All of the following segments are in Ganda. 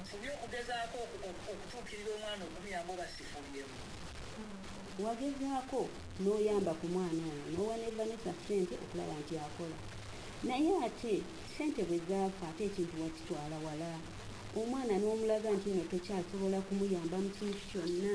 nsobye okugezaako okutuukirira omwana okumuyamba oba sifubyemu wagezaako n'oyamba ku mwana ono n'owa ne vanessa ssente okulaba nti akola naye ate ssente bwe zaafa ate ekintu wakitwala wala omwana n'omulaga nti no tokyasobola kumuyamba mu kintu kyonna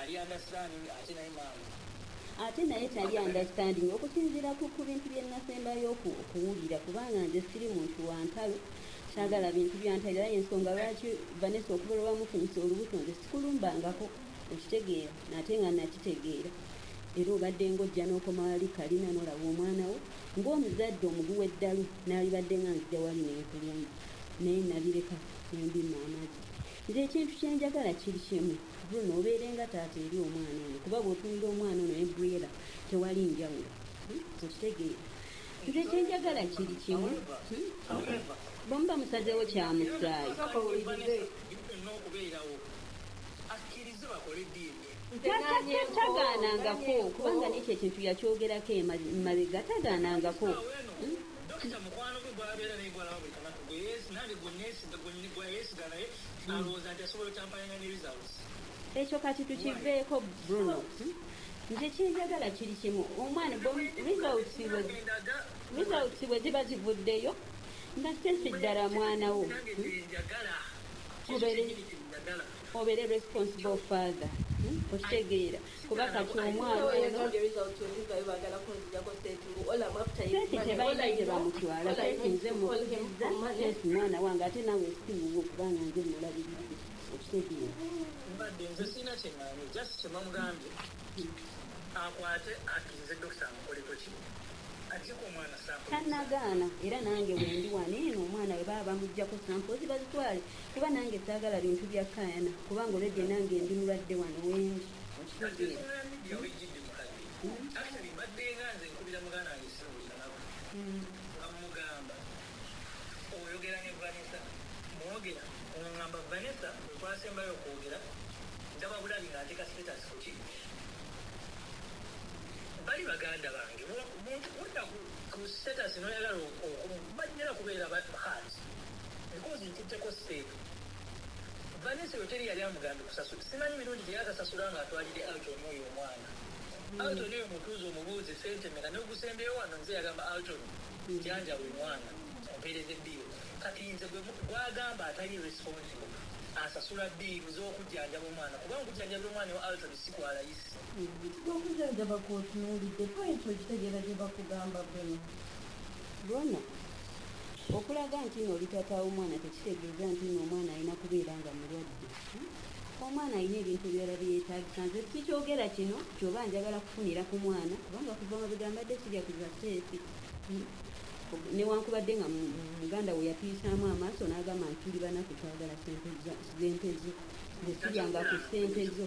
Ali understanding ate naye maama. Ate naye tali understanding okusinziira ku ku bintu bye nasembayo oku- okuwulira kubanga nze siri muntu wa ntalo kyagala bintu bya ntalo era yensonga lwaki Vanessa okuva lwe wamufunyisa olubuto nze sikulumbangako okitegeera nate nga nakitegeera era obadde ng'ojja n'okoma wali kalina n'olaba omwana wo ng'omuzadde omuguwa eddalu n'alibadde nga nzija wali nenkulumba naye nabireka nembimu amagi Nze ekintu kye njagala kiri kimu, Bruno obeere nga taata eri omwana ono kuba bw'otunulira omwana ono ne Briella tewali njawulo. Hmm? Okitegeera? Nze kye njagala kiri kimu, hmm? bwe muba musazeewo kya musaayi. Kakati tagaanangako kubanga n'ekyo ekintu yakyogerako emabega tagaanangako. Hmm? ekyo kati tukiveeko bruno nze kyenjagala kiri kimu omwana results bwe ziba zivuddeyo nga sesi ddala mwana wo obere responsible father hmm? okitegeera kuba kati omwana tebamutwala nze mukiriza mwana wange ate nawe siwuwo kubanga nze mulabirizi okitegeera mbadde nze sirina kyemanyi just kyemamugambye akwate akirize dokita amukoleko ki tanagaana era nange wendi wano eno omwana we baba bamugjako sampozi bazitwale kuba nange saagala bintu bya kaayana kubanga olwedde nange ndi mulwadde wano wendi okitegeera mwogera ngamba vanessa twasembayo okwogera ndaba bulabi ngaateka status kuki bali baganda bange muntu udda ku status noyagala okumanyira kubeera bahansi Emboozi nkutteko sseeka. Vanessa oyo teri yali amugambye kusasula. Simanyi mirundi gye yaakasasula ng'atwalidde Alton oyo omwana. Alton oyo mutuuze omubuuze ssente mmeka n'ogusembyeyo wano nze yagamba Alton njanjaba omwana ompeereze bbiiru. Kati nze gwe gw'agamba atali responsible asasula bbiiru z'okujjanjaba omwana kuba nkujjanjabira omwana wa Alton si kwa layisi. Okujjanjaba kw'otunuulidde point okitegeera gye bakugamba Bruno? Bruno, Okulaga nti nno oli taata w'omwana tekitegeeza nti nno omwana alina kubeera nga mulwadde. Omwana alina ebintu ebirala bye yeetaagisa. Nze sikyogera kino ky'oba njagala kufunira ku mwana kubanga kuva mabega mbadde sirya ku za keesi. Newankubadde nga muganda we yatuyisaamu amaaso n'agamba nti tuli banaku twagala ssente z'ente zo. Nze siryanga ku ssente zo.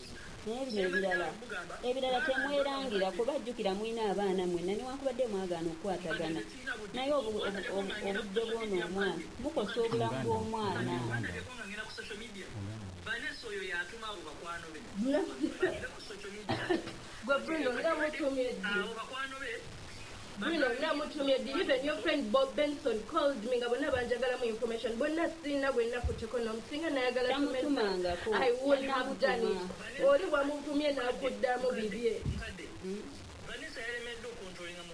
naye bino ebirala ebirala temwerangira kuba jjukira mulina abaana mwenna newankubadde mwagaana okukwatagana naye obudde bwona omwana mukosa obulamu bw'omwana gwe bruno nga mutumye ddi Bino namutumye did even your friend Bob Benson called me nga bonna banjagalamu information bonna sirina gwe nakutteko nom singa nayagala to mess Tamutumangako. I would have done it Yanamutuma. oli wamuvumye nakuddamu bibye Vanessa yalemeddwa okuntulinga mu